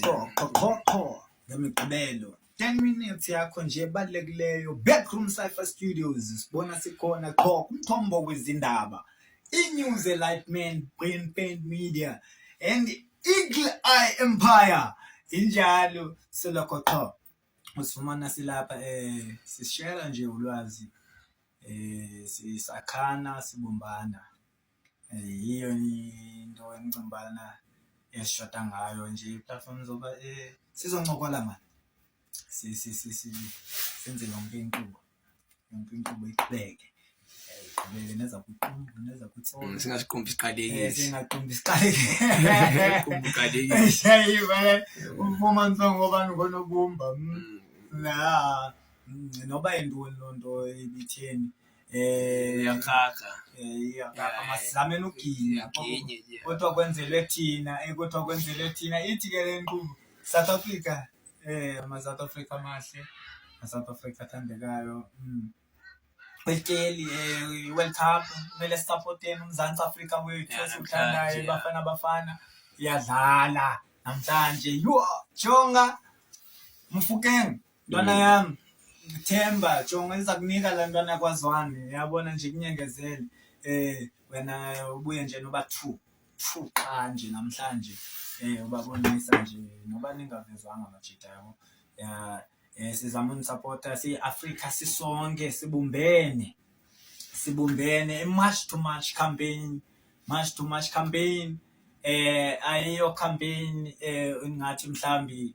qho qho qho qho ngemigqibelo 10 minutes yakho nje ebalulekileyo backroom cypher studios sibona sikhona qho kumthombo wezindaba inews elightman brain paint media and eagle eye empire injalo selokho qho usifumana silapha eh sishela nje ulwazi eh sisakhana sibumbana yiyo into endicinga ubana esishota ngayo nje iplatform zoba eh, sizoncokola mani senze yonke inkqubo yonke inkqubo iqhubeke iqhubeke neza kwiqumbu neza kwitsolo mm, singasiqumbi siqalekile eh, singaqumbi siqalekile ufumanisa ngoba ngonobumba mm. mm. na noba yintoni loo nto ibitheni eh yakaka amasilamenokinya kodwa kwenzelwe thina eh, kodwa kwenzelwe thina ithi ke le nkqubo south africa um amasouth africa amahle asouth africa athandekayo mm. kwelityeli um eh, i-world cup kumele sisapoteni umzantsi afrika wethu esiwuthandayo ibafana bafana iyadlala namhlanje yho jonga mfukeng Ntwana mm. yam, Themba, jonga iza kunika le ntwana kwazwane, yabona nje kunyengezele. Eh wena ubuye nje noba two, two qha nje namhlanje. Eh ubabonisa nje noba ningavezwanga amajita yabo. Ya eh sizama unisupporta siyi-Afrika sisonke sibumbene. Sibumbene i-march to march campaign, march to march campaign. Eh ayiyo campaign eh ngathi mhlambi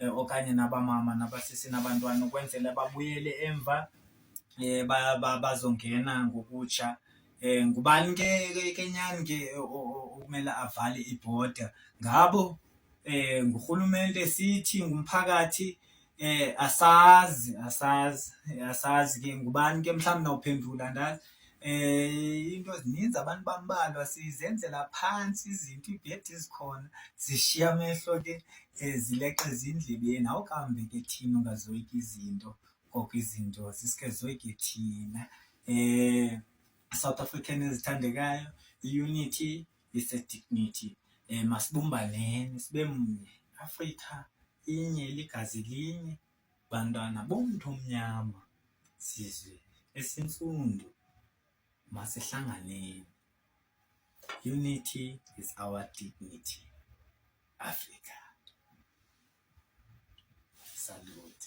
um okanye nabamama nabasisi nabantwana ukwenzela babuyele emva um bazongena ngokutsha um ngubani ke ke nyani ke okumele avale ibhoda ngabo um ngurhulumente sithi ngumphakathi um asazi asazi asazi ke ngubani ke mhlawumbi nawuphendula andazi Eh into zininzi abantu bambalwa sizenzela phansi izinto ibhedi izikhona zishiya amehlo ke eh, zileqe ezindlebeni awukambe ke thina ungazoyika izinto koko izinto sisike zoyike thina eh South African ezithandekayo unity is a dignity eh masibumbaneni sibe mnye Africa inye ligazi linye Bantwana bomntu omnyama, sizwe esintsundu, masihlanganeni. Unity is our dignity. Africa. Salute.